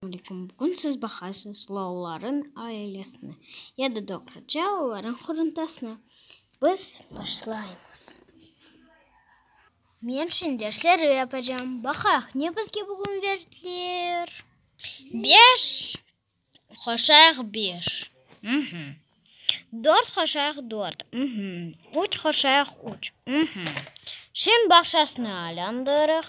Bugün siz baqarsız loğların ailesine, ya da doğruca onların quruntasına. Biz başlaymız. Men şimdi dersleri yapacam. Baqaq, ne bizge bugün berdiler? Beş qoşaq beş, uhmm. Dört qoşaq dört, uhmm. Üç qoşaq üç, uhmm. Şimdi bağçasını aylandırıq.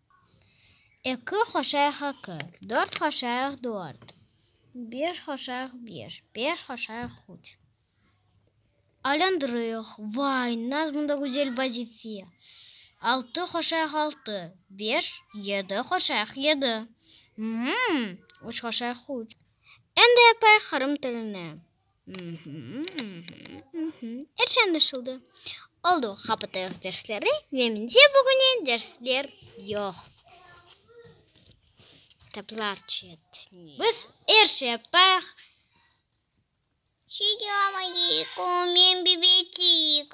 Eki hoşayıq eki, dört hoşayıq dört, beş hoşayıq beş, beş hoşayıq üç. Aylandırıyıq, vay, nazm da güzel vazife. Altı hoşayıq altı, beş, yedi hoşayıq yedi, mm, üç hoşayıq üç. Endi yapayıq qırım tilini. Er şey añlaşıldı. Oldu, qapatayıq dersleri ve mende bugüne dersler yoq. Kitaplar çetine. Biz er şey yapayıq. Selamünaleyküm, men Bibicik.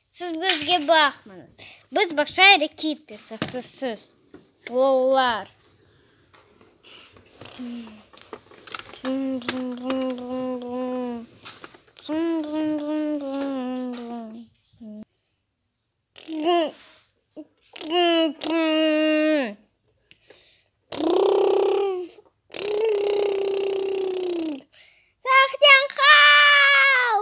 Siz bizge baqmañız. Biz bağça ile ketmesek sizsiz. Qollar. Saqnen qal!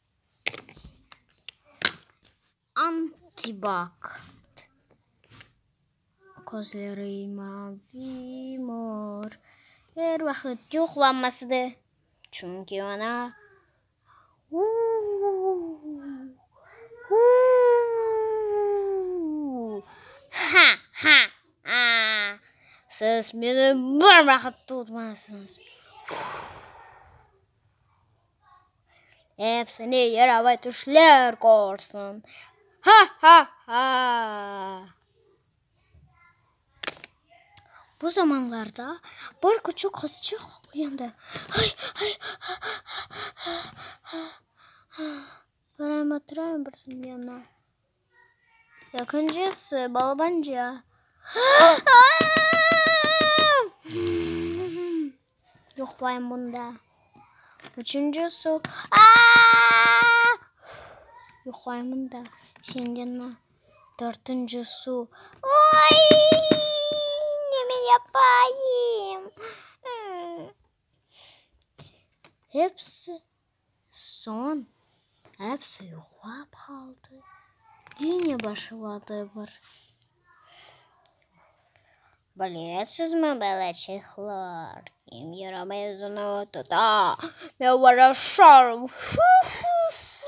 Antibakt Közleri mavi mor Er vaqıt yuqlanmasıdı Çünki ona uuuuuuuuu Ha! ha! aa Siz meni bir vaqıt tutmasıñız uuuuuuuuu Hepsini yaravet tüşler korsün. Ha-ha-ha! Bu zamanlarda bir küçük qızçıq uyandı. Ay-ay-ay-ay-ay-ay-ay-ay! Qarayım-atırayım bir saniye ana. Ekincisi, balabanca. Yuqlayım bunda. Üçüncisi, yuqlayım bunda. Şengeni. Dörtüncisi, ne men yapayım? Hepsi. Soñ episi yuqlap qaldı. Gene başladı bir. Bilesizmi, balaçıqlar, kim yaramay özüni tuta? Men varaşarım! Fu-fu-fu!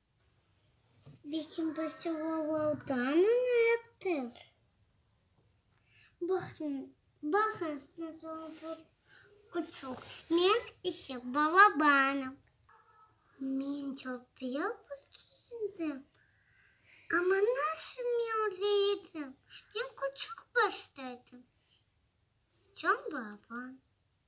Bikim birsi olavdan onı ettik. Men ise balabanım. Men çoq biyobır kiyindim. Amma nasıl men öyle edim? Men küçük başta edim. Can balaban.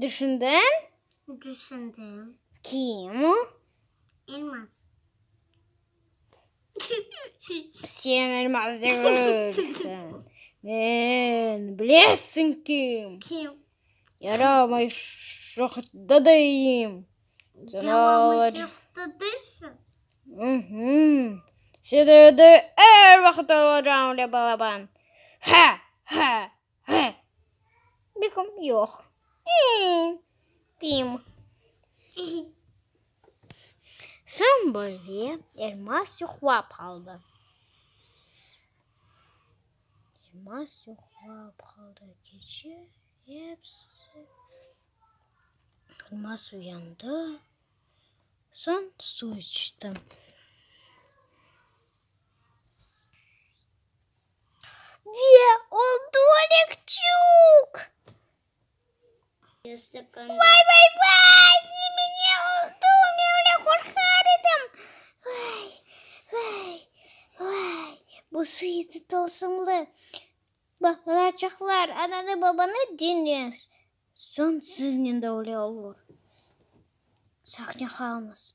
Düşündin? Düşündim. Kim o? Elmaz. Sen Elmaz degilsin. Men, bilesiñ kim? Kim? Yaramay şohta deyim. Sen Yaramay ağlac- şohta deysiñ? Mhü. Sen evde er vaqıt olacağım, le balaban. Ha! Ha! He. Bikim yoq. Bim. Soñ böyle Elmaz yuqlap qaldı. Elmaz yuqlap qaldı. Keçe episi. Elmaz uyandı. Soñ suv içti. Ve ol dolik çuk. Vay vay vay ne mine oldu men öyle qorqar edim vay vay vay bu suyeti tılsımlı balaçaqlar ananı babanı diñle soñ siznen de öyle olur sahne halınız.